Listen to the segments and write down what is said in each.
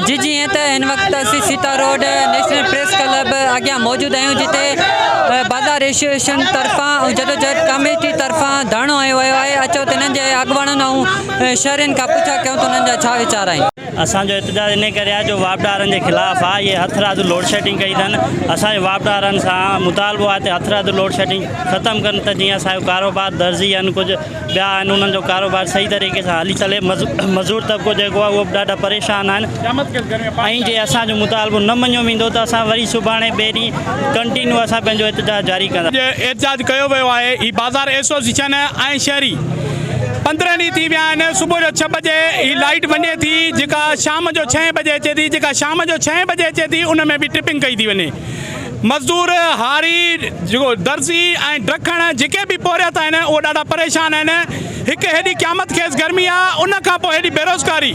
جي جيئن ته هن وقت اسين Sita road national press club اڳيان موجود آهيون جتي بازار ايسوسيئيشن طرفان ۽ جدوجهد ڪاميٽي طرفان ڌرڻو هنيو ويو آهي اچو ته هنن جي اڳواڻن ۽ شهرين کان پڇا ڪيون ته انهن جا ڇا ويچار آهن. اسان جو احتجاج انهي ڪري آهي جو واپڊارن جي خلاف آهي اهي هٿ رادو لوڊشيڊنگ ڪئي اٿن اسان جو واپڊارن سان مطالبو آهي ته هٿ رادو لوڊشيڊنگ ختم ڪن ته جيئن اسان جو ڪاروبار درزي ان ڪجهه ٻيا آهن انهن جو ڪاروبار صحيح طريقي سان هلي سلي مزور طبقو جيڪو آهي اهو به ڏاڍا پريشان آهن ۽ جي اسان جو مطالبو نه مڃيو ويندو ته اسان وري سڀاڻي ٻئي ڏينهن ڪنٽينيو اسان پنهنجو احتجاج جاري ڪنداسين احتجاج ڪيو ويو آهي هي بازار ايسوسيشن ۽ شهري پندرهن ڏينهن ٿي ويا آهن صبح جو ڇهه بجي هي لائيٽ وڃي ٿي جيڪا شام جو ڇهين بجي اچي ٿي جيڪا شام جو ڇهين بجي اچي ٿي ان ۾ به ٽرپنگ ڪئي ٿي وڃي مزدور، هاري، درزي ۽ ڊکڻ جيڪي به پورهيت آهن اهي ڏاڍا پريشان آهن. هڪ هيڏي قيامت خيز گرمي آ ان کان پوء هيڏي بيروزگاري.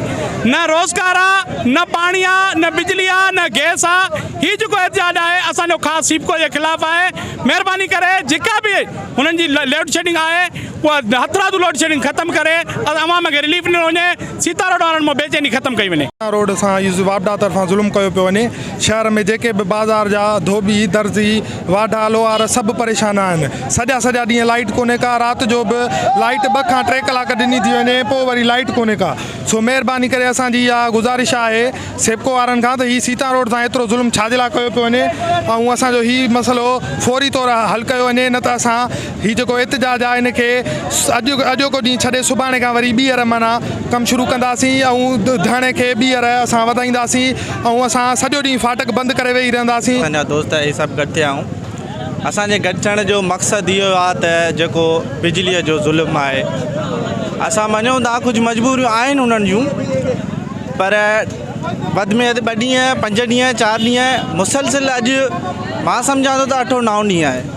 نه روزگار آ، نه پاڻي آ، نه بجلي آ، نه گئس آ. هي جيڪو احتجاج آهي اسان جو خاص سيپڪو جي خلاف آهي. مهرباني ڪري جيڪا به هنن جي لوڊشيڊنگ آهي اها هٿرادو لوڊشيڊنگ ختم ڪري ۽ عوام کي رليف ڏنو وڃي. سيتا روڊ وارن مان بيچيني ختم ڪئي وڃي. سيتا روڊ سان واپڊا طرفان ظلم ڪيو پيو وڃي. شهر ۾ جيڪي به بازار جا ڌوٻي، درزي، واڍا، لوهار سڀ پريشان آهن. سڄا سڄا ڏينهن لائيٽ ڪونهي ڪا، رات جو به لائيٽ ٻه کان ٽي ڪلاڪ ڏني ٿي وڃي پوء وري لائيٽ ڪونهي ڪا. سو مهرباني ڪري اسان جي اها گذارش آهي سيپڪو وارن کان ته هي سيتان روڊ سان ايترو ظلم ڇا جي لاء ڪيو پيو وڃي ۽ اسان جو هي مسئلو فوري طور حل ڪيو وڃي نه ته اسان هي جيڪو احتجاج آهي ان کي اڄ اڄوڪو ڏينهن ڇڏي سڀاڻي کان وري ٻيهر معنيٰ ڪم شروع ڪنداسين ۽ ڌرڻي کي ٻيهر اسان وڌائينداسين ۽ اسان سڄو ڏينهن فاٽڪ بند ڪري ويهي رهنداسين. اسان جا دوست اهي سڀ گڏ ٿيا آهيون. اسان جي گڏ ٿيڻ جو مقصد اهو آهي ته جيڪو بجليء جو ظلم آهي اسان مڃون ٿا ڪجهه مجبوريون آهن انهن جون پر وڌ ۾ وڌ ٻه ڏينهن پنج ڏينهن چار ڏينهن مسلسل اڄ مان سمجهان ٿو ته اٺون نون ڏينهن آهي.